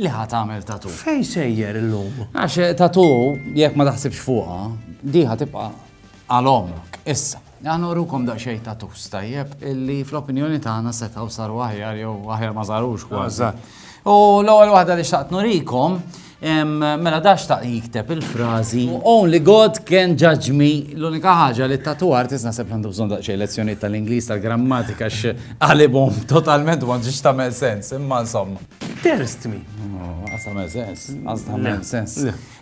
li ħa tagħmel tattoo. Fejn sejjer illum? Għax tattoo jekk ma taħsibx fuqha, di ħa tibqa' għal omrok issa. Għan urukom daqxej ta' tufs tajjeb illi fl-opinjoni tagħna setaw saru aħjar jew aħjar ma sarux kważi. U l-ewwel waħda li xtaqt nurikom mela dax ta' jikteb il-frażi Only God can judge me l-unika ħaġa li t-tatu artist naħseb għandu bżonn daqsxejn lezzjonijiet tal-Ingliż tal-grammatika x'qalibhom totalment ma ġiex tagħmel sens imma insomma. Terz tmi. Għas ta' sens. Għas ta' sens.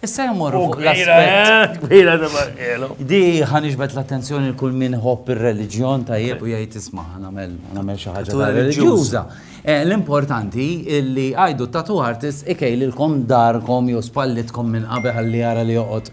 Issa jmorru fuq l-aspet. Kbira ta' barkelo. Di ħanixbet l-attenzjoni l-kull min hopp il-reliġjon ta' jib u jgħid isma' għamel għamel xaħġa ta' reliġjuza. Eh, l-importanti illi għajdu tattoo artist ikejlilkom darkom jew spallitkom minn qabel għalli għara li joqgħod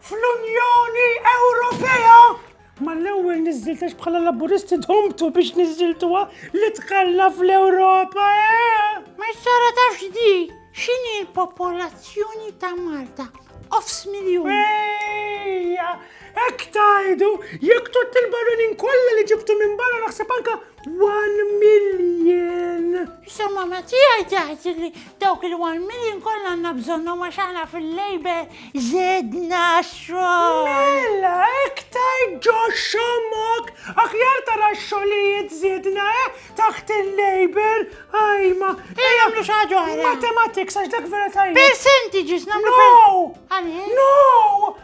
fl-Unjoni Ewropea ma l-ewwel niżżiltex bħala laburisti domtu biex niżżiltuha li tħalla fl-Ewropa, eh? Ma jsara ta' xdi, xini l-popolazzjoni ta' Malta? Offs miljon. Ejja, ek tajdu, jek tot il-barunin kolla li ġibtu minn barra naħseb anka One million! Issa mamma tiegħi taħt li dawk il-one million kollha għandna bżonnhom għax aħna fil-lejbe żedna xogħol. Mela, iktar ġo xomok, aħjar tara xogħlijiet żedna eh, taħt il-labor, ajma. Ejja nagħmlu xi ħaġa oħra. Mathematics għax dak vera tajjeb. Percentages nagħmlu. No! Għaliex? No!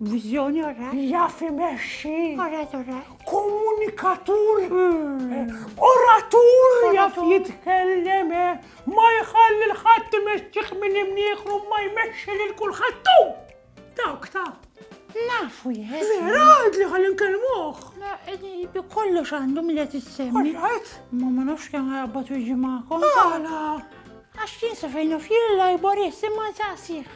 Viżjoni, all right. Jaf imexxi. All right, all right. Komunikatur. Hmm. Oratur jaf jitkellem. Eh. Ma jħalli l-ħadd imexxih minn imnieħru ma jmexxi lil kulħadd. Dawk ta' Nafu jħed. Vera, għad li għal nkelmuħ. Bi kollu xandu mill qed issemmi. Ma ma nafx kemm għabbat u ġimakom. Għala. Għax jinsa fejn u fjilla jbor jissimma ġasih.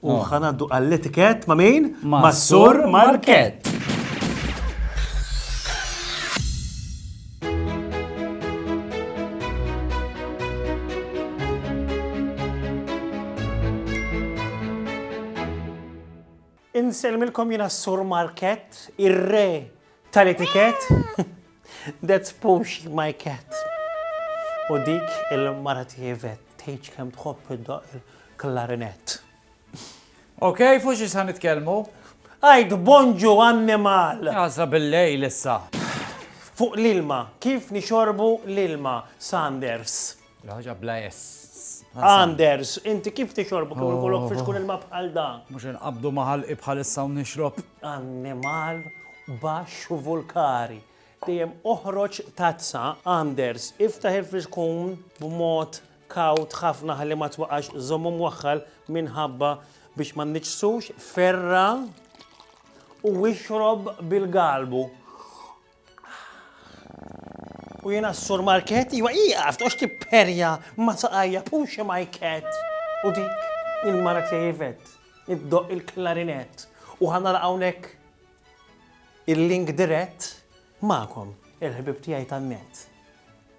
U ħanaddu għall-etikett ma' min? Ma' Sur Markett. Insellmilkom jiena Sur Markett, ir-re Tal-etikett? That's Puxi my cat. U dik il-mara tiegħi vet tgħidx kemm tħobb iddoq il-klarinett. Ok, fuq xi sa nitkellmu? Għajt bonġu annimal! Għażla bil-lejl issa. Fuq l-ilma, kif nixorbu l-ilma, Sanders? L-ħoġa bla ess. Anders, inti kif tixorbu kif il-kolok fiex kun il-map għal da? Mux inqabdu maħal ibħal issa u nixrob. Annimal bax vulkari. Dijem oħroċ tazza, Anders, iftaħ il-fiex kun b'mod kaut ħafna ħalli ma twaqax zommu mwaħħal minħabba biex ma nniċsux ferra u wixrob bil-galbu. U jiena s-sur Market, iwa iqaf, toqx tipperja ma saqajja puxi majket. U dik il-mara tiegħi vet, iddoq il-klarinett. U ħanara hawnhekk il-link dirett magħkom, il-ħbib tiegħi tan-nett.